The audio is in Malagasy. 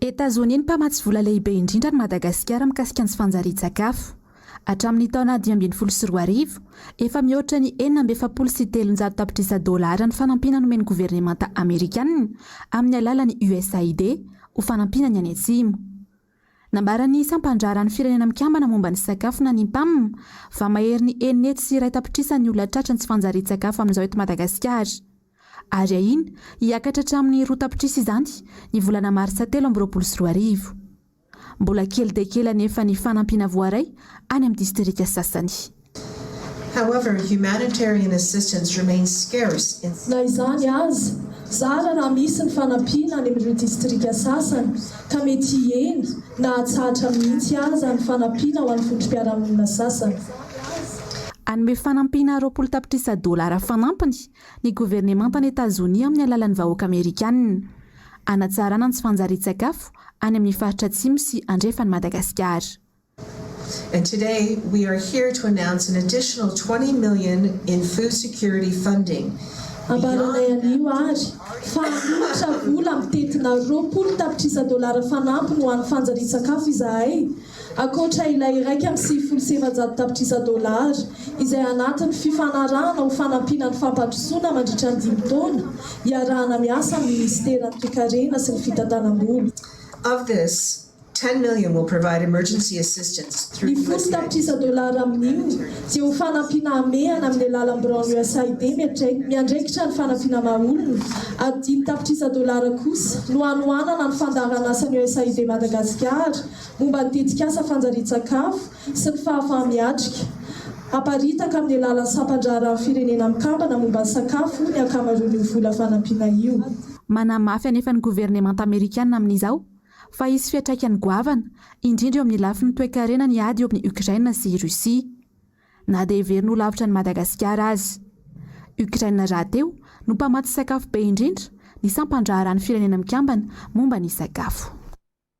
Etazonia ny mpamatsy vola lehibe indrindra an'i Madagasikara mikasika ny tsy fanjarian-tsakafo. Hatramin'ny taona dimy ambin'ny folo sy roa arivo, efa mihoatra ny enina amby efapolo sy telonjato tapitrisa dolara ny fanampiana nomen'ny governemanta amerikanina amin'ny alalan'ny USAID ho fanampiana ny any Atsimo. Nambaran'ny sampan-draharan'ny Firenena Mikambana momba ny Sakafo na ny Pam, fa maherin'ny enina hetsy sy iray tapitrisa ny olona tratry ny tsy fanjarian-tsakafo amin'izao eto Madagasikara. Ary ahiana hiakatra hatramin'ny roa tapitrisa izany ny volana marsa telo amby roapolo sy roa arivo. Mbola kely dia kely anefa ny fanampiana voaray any amin'ny distrika sasany. However, humanitarian assistance remains scarce in some. Na izany aza, zara raha misy ny fanampiana any amin'ireo distrika sasany ka mety hihena na hatsahatra mihitsy aza ny fanampiana ho an'ny vondrom-piarahamonina sasany. Hanome fanampiana roapolo tapitrisa dolara fanampiny ny governemantan'i Etazonia amin'ny alalan'ny vahoaka Amerikana, hanatsarana ny tsy fanjarian-tsakafo any amin'ny faritra atsimo sy andrefan'i Madagasikara. And today we are here to announce an additional twenty million in food security funding Ambaranay anio ary fa hanonitra vola mitentina roapolo tapitrisa dolara fanampiny ho an'ny fanjarian-tsakafo izahay, ankoatra ilay iraika amby sivifolo sy efajato tapitrisa dolara izay anatin'ny fifanarahana ho fanampiana ny fampandrosoana mandritra ny dimy taona iarahana miasa amin'ny minisiteran'ny Toekarena sy ny fitantanam-bola. Of this, Ten million will provide emergency assistance through usaid. Ny folo tapitrisa dolara amin'io dia ho fanampiana hamehana amin'ny alalan'ny biraon'ny usaid miatraika, miandraikitra ny fanampiana maha-olona, ary dimy tapitrisa dolara kosa no hanohanana ny fandaharanasan'ny usaid Madagasikara momba ny tetikasa fanjarian-tsakafo sy ny fahafaha-miatrika haparitaka amin'ny alalan'ny sampan-draharaha firenena mikambana momba ny sakafo ny ankamaroan'io vola fanampiana io. Manamafy anefa ny governemanta amerikana amin'izao Fa hisy fiantraikany goavana, indrindra eo amin'ny lafiny toe-karena ny ady eo amin'i Ukraine sy i Russie. Na dia heverina ho lavitra an'i Madagasikara aza. Ukraine rahateo no mpamatsy sakafo be indrindra ny sampan-draharahan'ny Firenena Mikambana momba ny Sakafo.